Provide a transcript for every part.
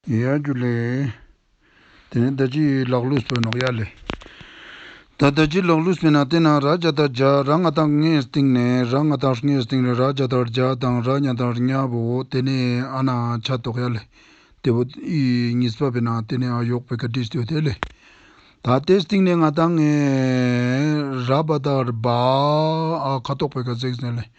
ཡ་རྒྱུ་ལས། དེ་ནས་བདག་ཅི་ལགས་ཀླུ་བསོད་ནོ། ཡ་ལས། ད་བདག་ཅི་ལགས་ཀླུ་བསོད་ན་དེ་ན་ར་བརྒྱ་དང་བརྒྱ་ར་ལྔ་དང་ལྔའི་སྟེང་ནས་ར་ལྔ་དང་ལྔའི་སྟེང་རེ་ར་བརྒྱ་དང་བརྒྱ་དང་ར་ལྔ་དང་ལྔ་བོ་དེ་ནས་ཨ་ན་ཆ་དོག་ཡ་ལས། དེ་བོ་ཨི་གཉིས་སྤ་བེ་ན་དེ་ནས་ཨ་ཡོག་བེ་ཀ་དྲིས་ཏོས་དེ་ལས། ད་དེ་སྟེང་ནས་ང་དང་ངའི་ར་བ་དང་ར་བ་ཨ་ཁ་དོག་བེ་ཀ་བརྩེགས་ཟེ་ལས།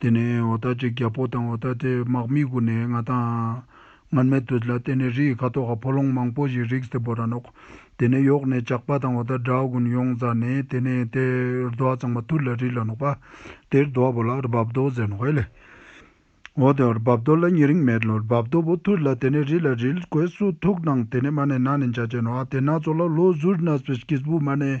དེ་ནས་འོ་ད་ཅིག་རྒྱལ་པོ་དང་འོ་ད་དེ་དམག་མི་དགུ་ནས་ང་དང། ངར་མེ་དུད་ལ་བརྟེན་ནས་རི་ཡི་ཁ་དོག་ག་ཕོ་ལོང་མང་པོ་ཞིག་རིགས་སྟེ་བོ་ར་ནོག། དེ་ནས་ཡོག་ནས་ཇག་པ་དང་འོ་ད་དགྲ་དགུན་ཡོང་ཛ་ནས་དེ་ནས་དེ་རྡོ་བ་ཙང་མ་ཐུར་ལ་རི་ལ་ནོག་པ། དེ་རྡོ་བ་བོ་ལ་རྦབ་རྡོ་ཟེར་ནོག་ཨེ། འོ་ད་རྦབ་རྡོ་ལ་ཉེ་རིང་མེད་ལོ་རྦབ་རྡོ་བོ་ཐུར་ལ་དེ་ནས་རི་ལ་རིལ་གོས་སུ་ཐུག་དང་དེ་ནས་མ་ནས་ན་ནས་འཇའ་ཅན་ནོ་ཨ་དེ་ན་ཚོ་ལ་ལོ་ཟུར་ན་སྤེ་སྐིས་བུ་མ་ནས་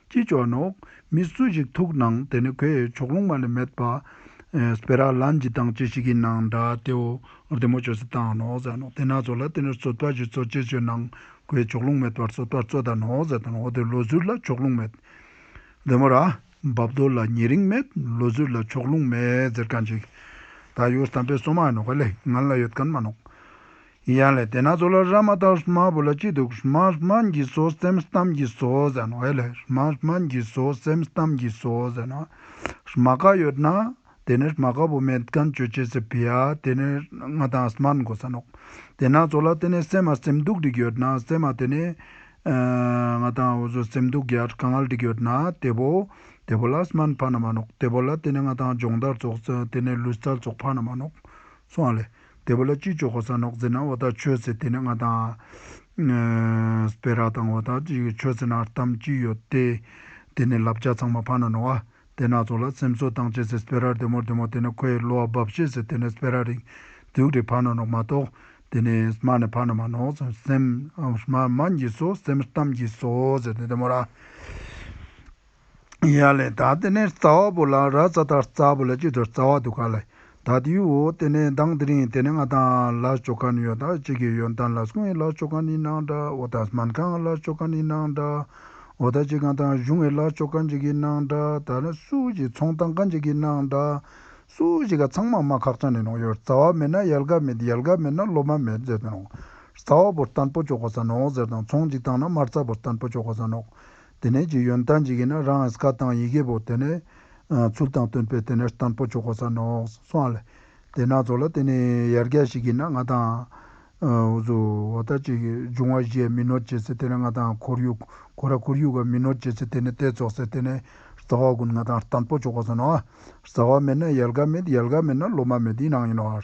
ཅི་བྱོ་ནོ། མི་སུ་ཞིག་ཐུག་སྣང་དེ་ནི་ཁོས་ཕྱོགས་ལྷུང་མ་ལས་མེད་པ། སྤེ་རག་ལ་འཇི་དང་ཅི་ཞིག་གི་སྣང་འདྲ་དེའོ། དེ་མོ་ཆོས་སུ་བཏང་ནོ་ཟེར་ནོ་དེ་ན་ཚོ་ལ་དེ་ནི་བཙོད་པ་ཞིག་ཚོ་ཅི་བྱོས་སྣང། ཁོས་ཕྱོགས་ལྷུང་མེད་པར་བཙོད་པར་བཙོད་ད་ནོ་ཟེར་ད་ནོ་དེ་ལོ་ཟུར་ལ་ཕྱོགས་ལྷུང་མེད། དེ་མོ་ར། འབབ་རྡོ་ལ་ཉེ་རིང་མེད་ལོ་ཟུར་ལ་ཕྱོགས་ལྷུང་མེད་ཟེར་ག་འཇིག། ད་ཡོད་བསམ་པའི་སོ་མ་ནོ་ག་ལེ་ང་ལ་ཡོད་ག་མ་ནོ། ཡིན་ཡང་ལས་དེ་ན་ཚོགས་ལ་ར་མ་ཏཱ་ཧྲི་མ་བུ་ལ་སྐྱིད་སྡུག་ཧྲི་མ་ཧྲི་མ་འགྱིས་སོ་སེམས་གཏམ་འགྱིས་སོ་ཟེར་ན་བས་ལས་ཧྲི་མ་ཧྲི་མ་འགྱིས་སོ་སེམས་གཏམ་འགྱིས་སོ་ཟེར་ན། ཧྲི་མ་ག་ཡོད་ན་དེ་ནི་ཧྲི་མ་ག་བུ་མེད་གན་ཅོ་ཅེས་ཟེར་བས་ཡ་དེ་ནི་ང་དང་ཧྲི་མར་འགོ་ས་ནོ། དེ་ན་ཚོགས་ལ་དེ་ནི་སེམས་མ་སེམས་སྡུག་འགྲིག་ཡོད་ན་སེམས་མ་དེ་ནི། ང་དང་འུ་ཟོ་སེམས་སྡུག་གྱར་ག་ངལ་འགྲིག་ཡོད་ན་དེ་བོ། དེ་བོ་ལ་ཧྲི་མར་ཕ་ན་མ་ནོག་དེ་བོ་ལ་དེ་ནི་ང་དང་སྦྱོང་བརྡར་ཚོགས་དེ་ནི་ལུས་རྩལ་ཚོགས་ཕ་ན་མ་ནོག་སོང་ལས། དེ་བོ་ལ་སྤྱི་ཆོག་གོ་ས་ནོག་ཙེ་ན་བ་ད་ཆོས་ཚེ་དེ་ནི་ང་དང། བེ་རག་དང་བ་ད་ཆོས་ཚེ་ན་གཏམ་སྐྱིད་ཡོད་དེ། དེ་ནི་ལབ་ཅག་ཚང་མ་ཕ་ན་ནོ་བ་དེ་ན་ཚོ་ལ་སེམས་གསོ་བཏང་བྱས་ཚེ་བེ་རག་དེ་མོར་དེ་མོ་དེ་ནི་ཁོ་ཡི་གློ་བ་འབབ་བྱས་ཚེ་དེ་ནི་བེ་རག་རིག་དུག་རི་ཕ་ན་ནོག་མ་གཏོགས་དེ་ནི་མ་ནི་ཕ་ན་མ་ནོག་ཚོ་སེམས་མ་མ་འགྱིས་སོ་སེམས་གཏམ་འགྱིས་སོ་ཟེར་དེ་དེ་མོ་ར། ཡ་ལེ་ད་དེ་ནས་རྩ་བ་པོ་ལ་ར་རྩ་དར་རྩ་པོ་ལ་གཅིག་ཏུ་རྩ་བ་དུ་ག་ལ་ད་དེ་ཡུ་བོ་དེ་ནས་མདང་དེ་རིང་དེ་ནས་ང་ད་ལ་ཅོ་ག་ནི་ཡོ་ད་ཅིག་གི་ཡོན་ད་ལ་སུ་ངའི་ལ་ཅོ་ག་ནི་ནང་འདྲ་བོ་ད་མན་ག་ང་ལ་ཅོ་ག་ནི་ནང་འདྲ་བོ་ད་ཅིག་ག་ད་གཞུ་ངའི་ལ་ཅོ་ག་འཇིག་གི་ནང་འདྲ་ད་ལ་སུ་ཅིག་ཚོང་ད་ག་འཇིག་གི་ནང་འདྲ་སུ་ཅིག་ག་ཚང་མ་མ་ཁག་ཅང་ནི་ནོག་ཡོ་རྩ་བ་མེད་ན་ཡལ་ག་མེད་ཡལ་ག་མེད་ན་སློབ་མ་མེད་ཟེར་ཏེ་ནོག་རྩ་བ་པོ་རྟན་པོ་ཅོ་ག་ཟ་ནོག་ཟེར་དང་ཚོང་ཅིག་བཏང་ན་མ་རྩ་པོ་རྟན་པོ་ཅོ་ག་ཟ་ནོག། དེ་ནས་ཀྱི་ཡོན་ཏན་གྱི་གིས་ན་རང་ཨས་ཀ་དང་ཡི་གེ་བོ་དེ་ནས། ཚུལ་དང་སྟོན་པས་དེ་ནས་སྟན་པོ་ཆོ་ག་ས་ནོ་སོང་ཨ་ལས། དེ་ན་ཚོ་ལ་དེ་ནས་ཡར་རྒྱ་ཞིག་གིས་ན་ང་དང། འོ་ཟོ་བ་ད་ཅིག་འབྱུང་བ་བཞིའི་མི་ནོར་བྱེད་ཚེ་དེ་ནས་ང་དང་ཁོར་ཡུག་གོ་ར་ཁོར་ཡུག་ག་མི་ནོར་བྱེད་ཚེ་དེ་ནས་ཏའི་ཚོགས་སེ་དེ་ནས་རྩ་བ་ཀུན་ང་དང་སྟན་པོ་ཆོ་ག་ས་ནོ་ཨ། རྩ་བ་མེད་ན་ཡལ་ག་མེད་ཡལ་ག་མེད་ན་སློབ་མ་མེད་ཡིན་ཨང་ཡིན་ནོ་ཨ།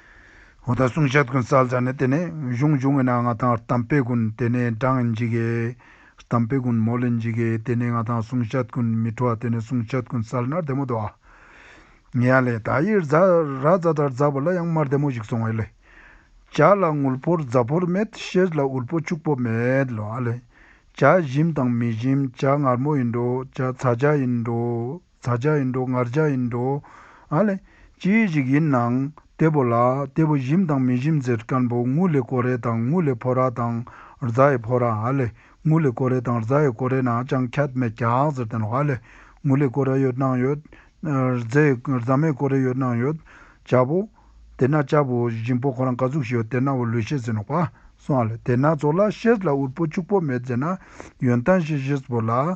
ཧོ་ད་གསུང་ཤད་ཀུན་གསལ་ལྗགས་ནི་དེ་ནས་གཞུང་འབྱུང་བས་ན་ང་དང་གཏམ་དཔེ་ཀུན་དེ་ནས་བགྲངས་འཇིག་གེ། གཏམ་དཔེ་ཀུན་མོ་ལེ་འཇིག་གེ་དེ་ནས་ང་དང་གསུང་ཤད་ཀུན་མི་འཕྲོ་བ་དེ་ནས་གསུང་ཤད་ཀུན་གསལ་ནར་དེ་མོ་དོ། ངེ་ཡང་ལས། ད་ཡི་ར་རྫ་ལྟར་འཛག་པ་ལ་ཡང་མར་དེ་མོ་ཞིག་སོང་བས་ལས། བྱ་ལ་དངུལ་ཕོར་རྫ་ཕོར་མེད་ཤེལ་ལ་དབུལ་པོ་ཕྱུག་པོ་མེད་ལ་ལས། བྱ་ཞིམ་དང་མི་ཞིམ་བྱ་མངར་མོ་ཡིན་འགྲོ་བྱ་ཚ་བྱ་ཡིན་འགྲོ། བཟའ་བཅའ་ཡིན་འགྲོ་ངར་བཅའ་ཡིན་འགྲོ། ཨ་ལས། ཅི་ཞིག་ཡིན་ནའང། དེ་བོ་ལ། དེ་བོ་ཞིམ་དང་མི་ཞིམ་ཟེར་སྐམ་པོ་དངུལ་ལས་ཀོ་རེ་དང་དངུལ་ལས་ཕོ་ར་དང། རྫ་ཡི་ཕོ་ར་ཨ་ལས། དངུལ་ལས་ཀོ་རེ་དང་རྫ་ཡི་ཀོ་རེ་ན་ཅང་ཁྱད་མེད་ཀྱག་ཟེར་དོན་ཨ་ལས། དངུལ་ལས་ཀོ་ར་ཡོད་སྣང་ཡོད། རྫ་ཡི་རྫ་མའི་ཀོ་རེ་ཡོད་སྣང་ཡོད། བཅའ་བོ། དེ་ན་བཅའ་བོ་ཞིམ་པོ་ཁོ་རང་ག་ཟུག་ཞིག་ཡོད་དེ་ན་བོ་ལུས་ཤེས་ཟེར་ནོ་ག་སོང་ཨ་ལས་དེ་ན་ཚོགས་ལ་ཤེས་ལ་འུར་པོ་ཕྱུག་པོ་མེད་ཟེར་ན། ཡོན་ཏན་ཤེས་ཤེས་བོ་ལ།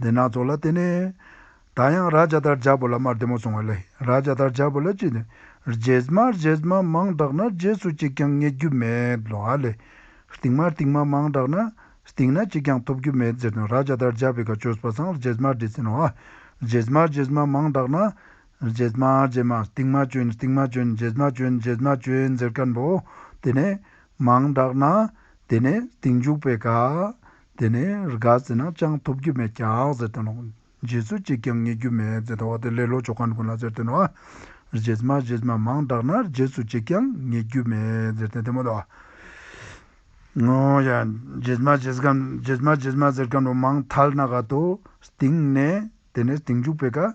འདི་སྣ་ཚོགས་ལ་དེ་ནས། ད་ཡང་ར་བྱ་དར་བྱ་བོ་ལ་དམར་བདེ་མོ་སོང་བ་ལས་ར་བྱ་དར་བྱ་བོ་ལ་ཅི་ནས། རྗེས་དམའ་རྗེས་དམའ་མང་དྲགས་ན་རྗེས་སུ་གཅིག་ཀྱང་རྙེད་རྒྱུ་མེད་ལོ་ཨ་ལས། ལྟིང་མ་ལྟིང་མ་མང་དྲགས་ན། ལྟིང་ན་གཅིག་ཀྱང་ཐོབ་རྒྱུ་མེད་ཟེར་དོན་ར་བྱ་དར་བྱ་བོའི་ག་ཆོས་པ་སངས་རྗེས་དམའ་འབྲེལ་ཟིན་ནོ་ཨ། རྗེས་དམའ་རྗེས་དམའ་མང་དྲགས་ན། རྗེས་དམའ་རྗེས་དམའ་ལྟིང་མ་བྱོན་ལྟིང་མ་བྱོན་རྗེས་དམའ་བྱོན་རྗེས་དམའ་བྱོན་ཟེར་ཀན་པོ། དེ་ནས། མང་དྲགས་ན། དེ་ནས་ལྟིང་འཇུག་པའི་ག། དེ་ནས་རྒ་ཟེར་ན་ཅང་ཐོབ་རྒྱུ་མེད་ཀྱང་ཟེར་དོན་ནོ། རྗེས་སུ་གཅིག་ཀྱང་ངེས་རྒྱུ་མེད་ཟེར་དོ་དེ་ལས་ལོ་ཅོག་གང་དགོས་ལ་ཟེར་དོན་ནོ། རྗེས་མ་རྗེས་མ་མང་དྲགས་ན་རྗེས་སུ་གཅིག་ཀྱང་ངེས་རྒྱུ་མེད་ཟེར་དོན་དེ་མོ་ལ། རྗེས་མ་རྗེས་གམ་རྗེས་མ་རྗེས་མ་ཟེར་གམ་ལོ་མང་ཐལ་ན་ག་དོ། སྟེང་ནས་དེ་ནས་སྟེང་འཇུག་པའི་ག།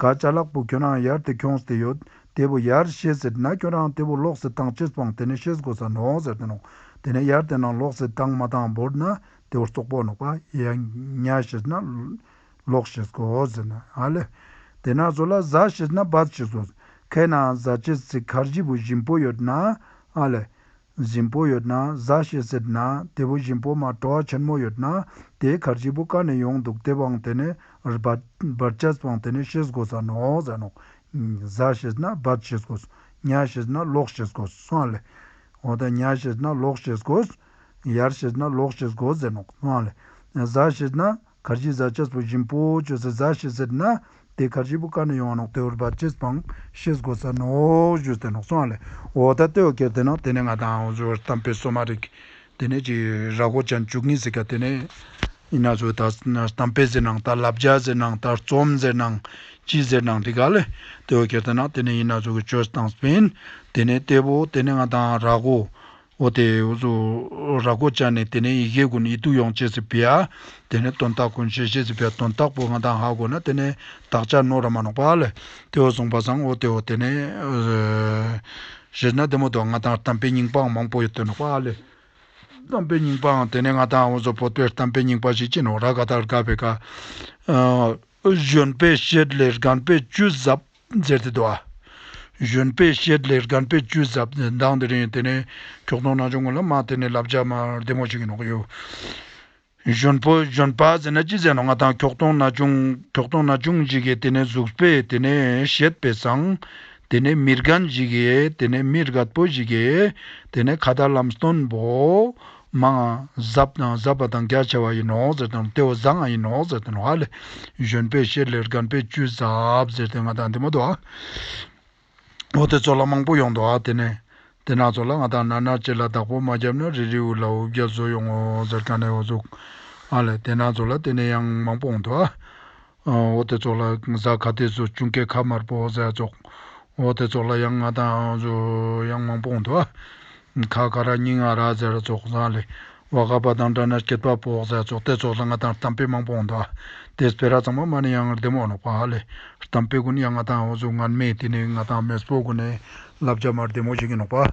དགའ་བྱ་ལགས་པོ་ཁྱོད་རང་ཡར་དེ་ཁྱོངས་ཟེར་ཡོད་དེ་བོ་ཡར་བཤད་ཟེར་ན་ཁྱོད་རང་དེ་བོ་ལོག་ཟེར་དང་ཕྱིར་སྤང་དེ་ནས་བཤད་དགོས་ས་ནོག་ཟེར་དེ་ནོག་དེ་ནས་ཡར་དེ་ནང་ལོག་ཟེར་དང་མ་དང་བོར་ན་དེ་བོར་སོག་པོ་ནོག་པ་ཡ་ཉ་བཤད་ན་ལོག་བཤད་དགོས་ཟེར་ན་ཨ་ལེ། དེ་ན་ཟོ་ལ་བཟའ་བཤད་ན་བད་བཤད་ཟོ། ཁའི་ནང་བཟའ་བྱེད་ཟེར་ཁར་བཞི་བོ་བཞིན་བོ་ཡོད་ན་ཨ་ལེ། བཞིན་པོ་ཡོད་ན་གཟའ་བྱེད་ཟེར་ན་དེ་བུ་བཞིན་པོ་མ་གྲོགས་ཆེན་མོ་ཡོད་ན་དེའི་གར་གཅིག་པུ་ཀ་ནས་ཡོང་འདུག་དེ་བང་དེ་ནས་རྦད་བྱས་བང་དེ་ནས་ཤེས་དགོས་ས་ནོ་ཟེར་ནོ། གཟའ་བྱེད་ན་རྦད་བྱེད་དགོས། ཉྭ་བྱེད་ན་ལོག་བྱེད་དགོས་སོང་ལེ། འོ་ད་ཉྭ་བྱེད་ན་ལོག་བྱེད་དགོས། ཡར་བྱེད་ན་ལོག་བྱེད་དགོས་ཟེར་ནོ་སོང་ལེ། གཟའ་བྱེད་ན། གར་གྱི་བཟའ་བཅའ་ཚོགས་བཞིན་པོ་བཅོས་ཚེ་བཟའ་ཞེས་ཟེར་ན། དེའི་གར་གྱི་བུ་ག་ནས་ཡོང་བ་ནོག་དེ་འོར་བར་ཅེས་པའང་ཤེས་དགོས་ས་ནོག་བཅོས་ཚེ་ནོག་ཚོང་བ་ལས་འོ་ད་ལྟོས་ཀྱི་དེ་ནོག་དེ་ནས་ང་དང་འོ་བཅོས་བར་གཏམ་སྤེལ་སྲོལ་མ་རེད། དེ་ནས་ཅིག་ར་གོ་ཅན་བཅུག་གིན་ཟིག་ག་དེ་ནས། ཡིན་ན་ཚོས་ད་གཏམ་སྤེལ་ཟེར་ནང་ད་ལབ་བརྒྱ་ཟེར་ནང་ད་རྩོམ་ཟེར་ནང། ཅི་ཟེར་ནང་དེ་ག་ལས་ལྟོས་ཀྱི་དེ་ནོག་དེ་ནས་ཡིན་ན་ཚོས་གི་བཅོས་ཚེ་དང་སྤེན། དེ་ནས་ལྟོས་པོ་དེ་ནས་ང་དང་ར་གོ། ཨོ་དེ། ར་གོ་ཅཱ་ནས་དེ་ནས་ཡི་གེ་དགུ་ནི་ཡི་དུག་ཡོང་ཅེས་སི་བི་ཡ། དེ་ནས་དོན་རྟགས་ཀུན་བྱེད་ཅེས་སི་བི་ཡ་དོན་རྟགས་པོ་ང་དང་ཧ་གོ་ན་དེ་ནས་དག་ཅ་ནོ་ར་མ་ནོག་པ་ལས། དེ་འོ་ཟོང་བ་ཟང་ཨོ་དེ་འོ་དེ་ནས། ཞེས་ན་དེ་མོ་དོ་ང་དང་དམ་པའི་སྙིང་པའང་མང་པོ་ཡོད་དོ་ནོག་པ་ལས། དམ་པའི་སྙིང་པའང་དེ་ནས་ང་དང་འོ་ཟོ་བོ་དེར་དམ་པའི་སྙིང་པ་ཞིག་ཅི་ནོ་ར་ག་དག་དགའ་བའི་ག། གཞོན་པས་བཤད་ལས་རྒན་པས་བཅུད་གཟབ། མཛད་དེ་བསྡུ་བ། གཞོན་དཔེ་ཤེལ་ལེར་སྒམ་དཔེ་བཅུ་གཟབ་ནས་མདངས་དེ་རིང་དེ་ནས་ཁྱོག་སྟོང་ནང་ཆོས་མགོ་ལ་མ་དེ་ནས་ལབ་ཇག་མ་བདེ་མོ་ཞིག་ཡིན་ནོག་གཡོ། གཞོན་ཕོ་གཞོན་པ་ཟེར་ན་ཅི་ཟེར་ནོག་ང་དང་ཁྱོག་སྟོང་ན་ཆུང་ཁྱོག་སྟོང་ན་ཆུང་ཞིག་གིས་དེ་ནས་གཟུགས་དཔེ་དེ་ནས་ཤེལ་དཔེ་བཟང། དེ་ནས་མི་རྒན་ཞིག་གིས་དེ་ནས་མི་རྒད་པོ་ཞིག་གིས་དེ་ནས་ཁ་བརྡ་ལམ་སྟོན་པོ། མ་ང་ཟབ་དང་ཟབ་པ་དང་རྒྱ་ཆེ་བ་ཡི་ནོག་ཟེར་དང་ཏེའོ་ཟ་ང་ཡི་ནོག་ཟེར་དང་ཧ་ལས་གཞོན་པས་ཤེར་ལེར་སྒམ་པས་བཅུད་ཟབ་ཟེར་དེ་ང་དང་དེ་མོ་དོ་ཨོ་དེ་ཚོ་ལ་མང་པོ་ཡོང་དོ་ཨ་དེ་ནས་དེ་ནག་ཚོ་ལ་ང་དང་ནར་ནར་བྱེད་ལ་བདག་པོ་མ་རྒྱབ་ན་རི་རི་འུ་ལ་འུ་བརྒྱ་བཟོ་ཡོང་ངོ་ཟེར་ག་ནས་འོ་ཟུག་ཨ་ལས་དེ་ནག་ཚོ་ལ་དེ་ནས་ཡང་མང་པོ་འོང་དོ་ཨ། ཨོ་དེ་ཚོགས་ལ་གཟའ་ག་དེ་ཚོ་ཅུང་སྐད་ཁ་དམར་པོ་ཟེར་ཚོགས། ཨོ་དེ་ཚོགས་ལ་ཡང་ང་དང་ཨང་ཚོ་ཡང་མང་པོ་འདུག་ཨ། ཁ་ག་ར་སྙིང་ཨ་ར་ཟེར་ཚོགས་བཟང་ལེ། བ་ག་བ་དང་འདྲ་ན་སྐད་དཔའ་པོ་ཟེར་ཚོགས་དེ་ཚོགས་ལ་ང་དང་གཏམ་དཔེ་མང་པོ་འདུག་ཨ། དེས་བེ་ར་ཚང་མ་མ་ནི་ཡང་བདེ་མོ་འདུག་ཨ་ལེ། གཏམ་དཔེ་དགུ་ནི་ཡང་ང་དང་ཨོ་ཚོ་ངར་མེད་དེ་ནི་ང་དང་མེས་པོ་དགུ་ནི་བསླབ་བྱ་མར་བདེ་མོ་བྱེད་ཀྱི་འདུག་ཨ།